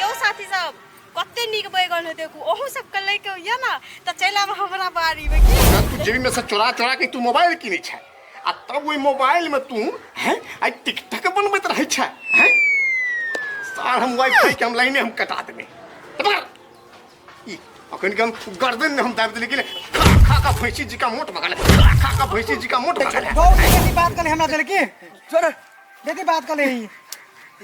यौ साथी सब कते नीक बैगन है देखू ओहू सब के लेके होइए ना त चल आब हमरा बारी में की तू जेबी में से चोरा चोरा के तू मोबाइल किनै छै आ तब ओहि मोबाइल में तू हैं आई टिकटक बनबैत रहै छै हैं सार हम वाइफाई के हम लाइने हम कटा देबै अखन के हम गर्दन में हम दाब देले गेले खा खा का भैंसी जी का मोट भगले खा खा का भैंसी जी का मोट भगले बहुत देखी बात कर हमरा देले की छोड़ देखी बात कर ही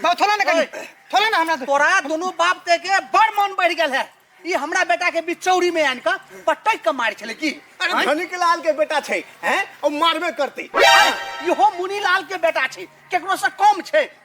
बात थोड़ा ना करी थोड़ा ना हमरा तोरा दोनों बाप ते के बड़ मन बढ़ गेल है ई हमरा बेटा के बिचौरी में आन का पटक के मार छले की अरे धनी के लाल के बेटा छै हैं और मारबे करते इहो मुनीलाल के बेटा छै केकरो से कम छै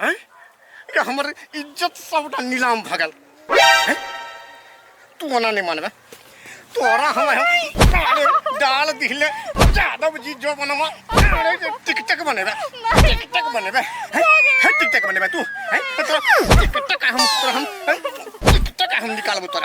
हैं ये हमर इज्जत सबटा नीलाम भ गेल हैं? तू ओना नहीं मानबे तोरा हम हम डाल डाल दिले यादव जी जो बनवा अरे जे टिकटक बनेबे टिकटक बनेबे हैं? हैं, टिकटक बनेबे तू हैं? तोरा टिकटक हम तोरा हम हैं? टिकटक हम निकालबो तोरा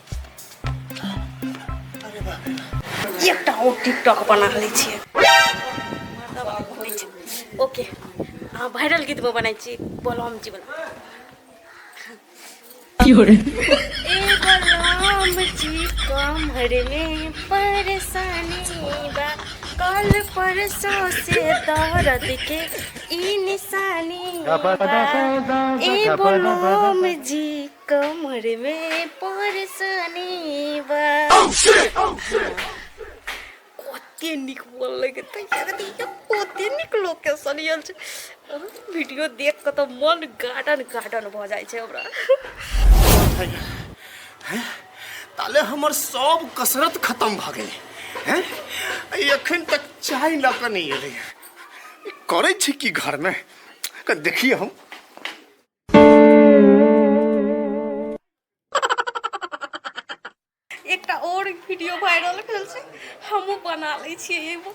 एकटा ओ टिकटॉक बना लै छियै ओके अहाँ वायरल गीत में बनाई छी बलराम जी बला की हो रे ए बलराम जी कमर में परेशानी बा कल परसों से दर्द के ई निशानी बा ए बलराम जी कमर में परसनी बा कते निक बोल लगे त यार देखियो कते निक लोकेशन यल छै अह, वीडियो देख के त मन गार्डन गार्डन भ जाइ छै हमरा ताले हमर सब कसरत खत्म भ गेल हैं ई एखन तक चाय ल के नहीं एलै ई करै छै की घर में देखिए हम एकटा और वीडियो वायरल भेल छै हमहु बना ले छिए एगो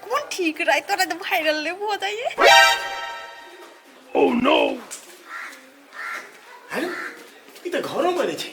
कोन ठीक रहै तोरा त वायरल ले भ जाइए ओ oh, नो हेलो ई त घरो बने छै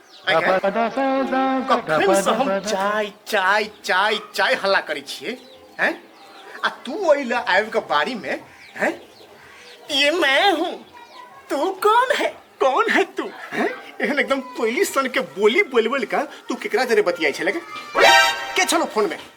कखनसँ हम चाय चाय चाय चाय हल्ला करै छियै हैं आ तू ओहि लए आबि कऽ बाड़ीमे हैं ये मैं हूँ तू कौन है कौन है तू हैं एहन एकदम कोयली सन के बोली बोलि बोलि कऽ तू केकरा जरे बतियाइ छलै के छलो फोनमे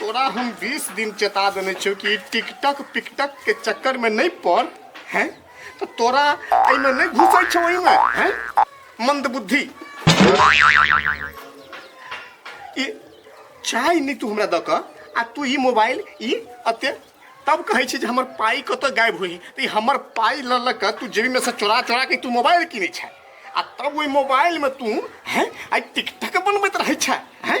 तोरा हम 20 दिन चेता देने छियो कि टिकटक पिकटक के चक्कर में नहीं पड़ हैं तो तोरा एमे नहीं घुसै छौ एमे हैं मंदबुद्धि ई चाय नहीं तू हमरा द क आ तू ई मोबाइल ई अते तब कहै छी जे हमर पाई कत गायब होई त ई हमर पाई ल ल क तू जेबी में से चोरा चोरा के तू मोबाइल किनै छै आ तब ओहि मोबाइल में तू हैं आई टिकटक बनबैत रहै छै हैं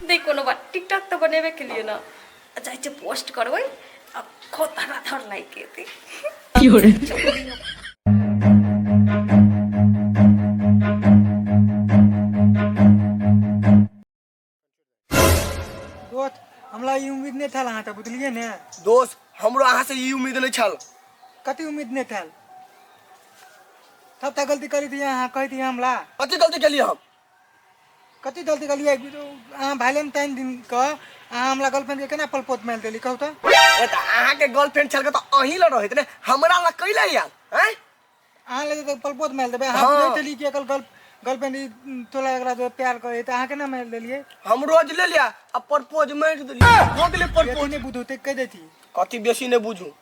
नहि कोनो बात टिकटॉक तऽ बनेबे केलियै ने जाइ छै पोस्ट करबै आ खो धरा धर लागि गेतै की हो रहे दोस्त हमरा ई उम्मीद नहि छल अहाँ तऽ बुझलियै ने दोस्त हमरो अहाँ से ई उम्मीद नहि छल कति उम्मीद नहि छल सभटा गलती करी दिए अहाँ कहि दिए हमरा कथी गलती केलियै हम कति जल्दी गलियो एक बीच अहाँ वैलेंटाइन दिन क अहाँ हमरा गर्लफ्रेंड के केना पलपोत मार देली कहू तो ए त अहाँ के गर्लफ्रेंड छल के त अहीं ल रहत ने हमरा ल कैले आयल हैं अहाँ लगे तो पलपोत मार देबे अहाँ हाँ। बुझे चली कि एकल गर्ल गर्लफ्रेंड ई तोला एकरा जो प्यार करे त अहाँ केना मार देलिए हम रोज ले लिया आ परपोज मार देली हो गेले परपोज बेटी ने बुझते कह देती कति बेसी ने बुझू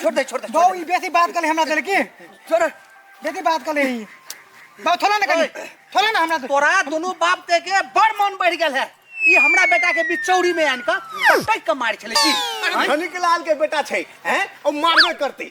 छोड़ दे छोड़ दे बहु ई बेसी बात कले हमरा देले की छोड़ बेसी बात कले ई बहु थोड़ा ना कले थोड़ा ना हमरा दे तोरा दोनों बाप ते के बड़ मन बढ़ गेल है ई हमरा बेटा के बीच चौरी में आन के टक के मार छले की धनिक लाल के बेटा छै हैं ओ मारबे करते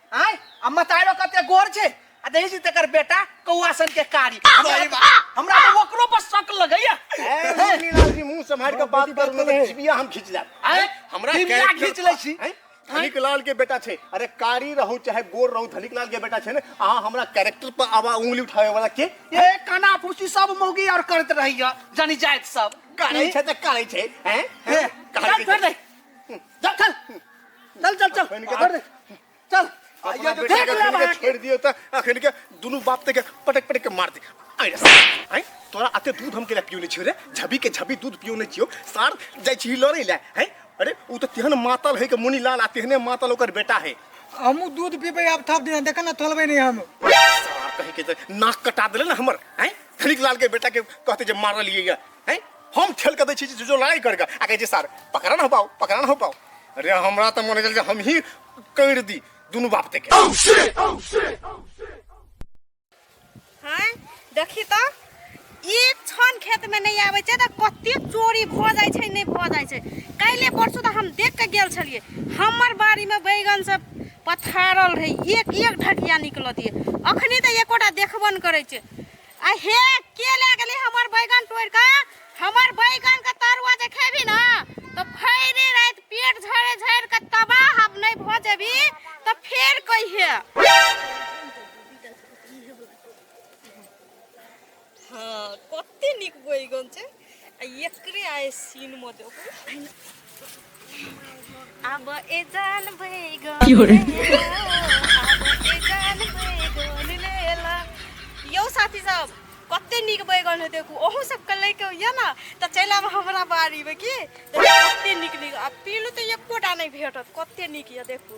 आय आ मतारो कते गोर छै आ देखै छी तकर बेटा कौआ सन के कारी सही बात। हमरा तऽ ओकरो पर शक लगैया ए, मुरलीलाल जी मुंह सम्हारि कऽ बात करू ने तऽ जिबिया हम खींच लेब आय हमरा दिव्या character- खींच लै छी हैं? धनिक लाल के बेटा छै अरे कारी रहू चाहे गोर रहू धनिक लाल के बेटा छै ने अहाँ हमरा कैरेक्टर पर आवा उंगली उठावे वाला के ए काना फूसी सब मौगी और करत रहैया जानी जाइत सब करै छै तऽ करै छै हैं? ए, करै चल छै। फेर दे। चल चल चल चल चल अखन के- कर दे। चल अपना ये जो बेटा देख के ले अखन के बाहर। छोड़ दियो त अखन के दुनु बाप ते के पटक पटक के मार दे आइ रे सार, आइ तोरा आते दूध हम केला पियो ने छियो रे झबी के झबी दूध पियो ने छियो सार जाय छी लड़े ले हैं अरे उ त तेहन मातल है के मुनि लाल आ तेहने मातल ओकर बेटा है हमू दूध पीबे अब थप दिन देखा ना थलबे नहीं हम सार कहे के त नाक कटा देले ना हमर हैं धनिक लाल के बेटा के कहते जे मारल ये हैं हम ठेल के दै छी जे जो लड़ाई करके आ कहै छै सर पकड़ा न हो पाओ पकड़ा न हो पाओ अरे हमरा तऽ मन गेल जे हम ही करि दी दुनू बाप ते के हैं देखी तो एक क्षण खेत में नहीं आवे छै तऽ कते चोरी भऽ जाइ छै नहि भऽ जाइ छै काल्हि परसू तऽ हम देख के गेल छलिए हमर बाड़ी में बैगन से पथारल रहे एक एक ढकिया निकलत ये अखनी तऽ एकोटा देखबो ने करै छै आ हे के ले गेली हमर बैगन तोड़ के हमर बैगन के तरुआ जे खेबी ना तो भैरे रात पेट झड़े झड़ के तबाह हम नहीं भ जेबी तो फेर कहिए हाँ कते निक बैगन छै एकरे आहे सीन मध्ये आब ए जान भई ग यो साथी सब कते निक बैगन है देखू ओहू सब के लेके होइए ना तो चल आब हमरा बाड़ी में की कते निक निक आ पीलू तो एकोटा नहीं भेटत कते निक ये देखू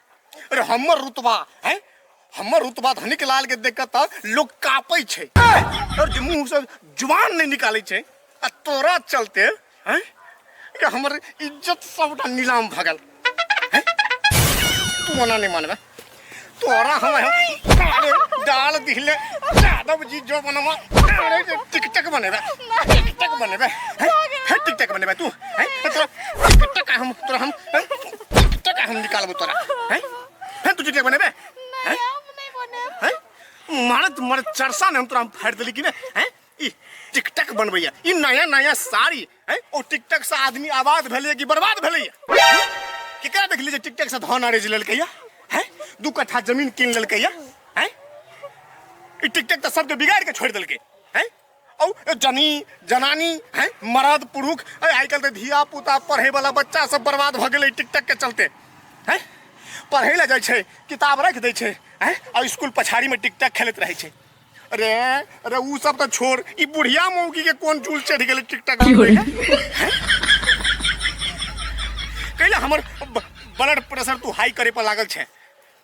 अरे हमर रुतबा है हमर रुतबा धनिक लाल के देख त लोग कापै छै और जे मुंह से जुबान नहीं निकालै छै आ तोरा चलते है ये हमर इज्जत सबटा नीलाम भगल हैं? तू मना नहीं मानबे तोरा हम अरे डाल दिले यादव जी जो बनवा अरे जे टिकटक बनेबे टिकटक बनेबे हैं? हैं, टिकटक बनेबे तू हैं? तोरा टिकटक हम तोरा हम हैं? तोरा हम निकालबो तोरा हैं फेर तू चुटिया बनेबे हैं हैं मारत मर चरसा ने हम तोरा फाड़ देली कि ने हैं ई टिकटक बनबैया ई नया नया साड़ी हैं ओ टिकटक से आदमी आबाद भेलै कि बर्बाद भेलै केकरा देखली जे टिकटक से धन अरेज लेलकैया हैं दू कट्ठा जमीन कीन लेलकैया हैं ई टिकटक तऽ सबके बिगाड़ के छोड़ देलकै हैं औ जनी जनानी है मर्द पुरुष अरे आइ काल्हि तऽ धिया पुता पढ़े वाला बच्चा सब बर्बाद भऽ गेलै टिकटक के चलते है पढ़े लए जाइ छै किताब राखि दै छै है आ स्कूल पछाड़ी में टिकटक खेलैत रहै छै अरे अरे ऊ सब तऽ छोड़ ई बुढ़िया मौगी के कोन चूल चढ़ि गेलै टिकटक बनबै के? हैं? कैला हमर ब्लड प्रेशर तू हाई करे पर लागल छै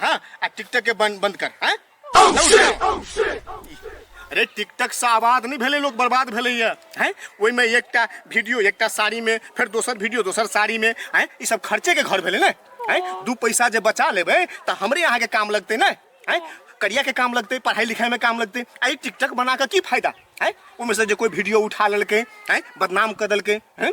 हाँ आ टिकटक के बंद बंद कर हाँ अरे टिकटक से आबाद नहीं भेले लोग बर्बाद भेले ये हैं ओहि में एकटा वीडियो एकटा साड़ी में फिर दोसर वीडियो दोसर साड़ी में हैं ई सब खर्चे के घर भेले ने हैं दू पैसा जे बचा लेबे तो हमरे यहाँ के काम लगते ने हैं करिया के काम लगते पढ़ाई लिखाई में काम लगते आ ई टिकटक बना के की फायदा हैं ओहिमे से जे कोई वीडियो उठा लेलकै हैं बदनाम कर देलकै हैं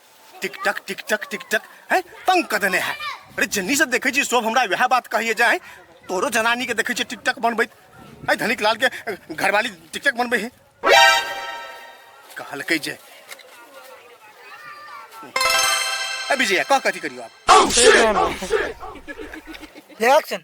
टिक टक टिक टक टिक टक हैं तंग कर देने है अरे जन्नी से देखे छी सब हमरा वह बात कहिए जाए तोरो जनानी के देखे छी टिक टक बनबैत है धनिक लाल के अ, घरवाली टिक टक बनबै है कहलकै जे ए विजय कह कथी करियो आप एक्शन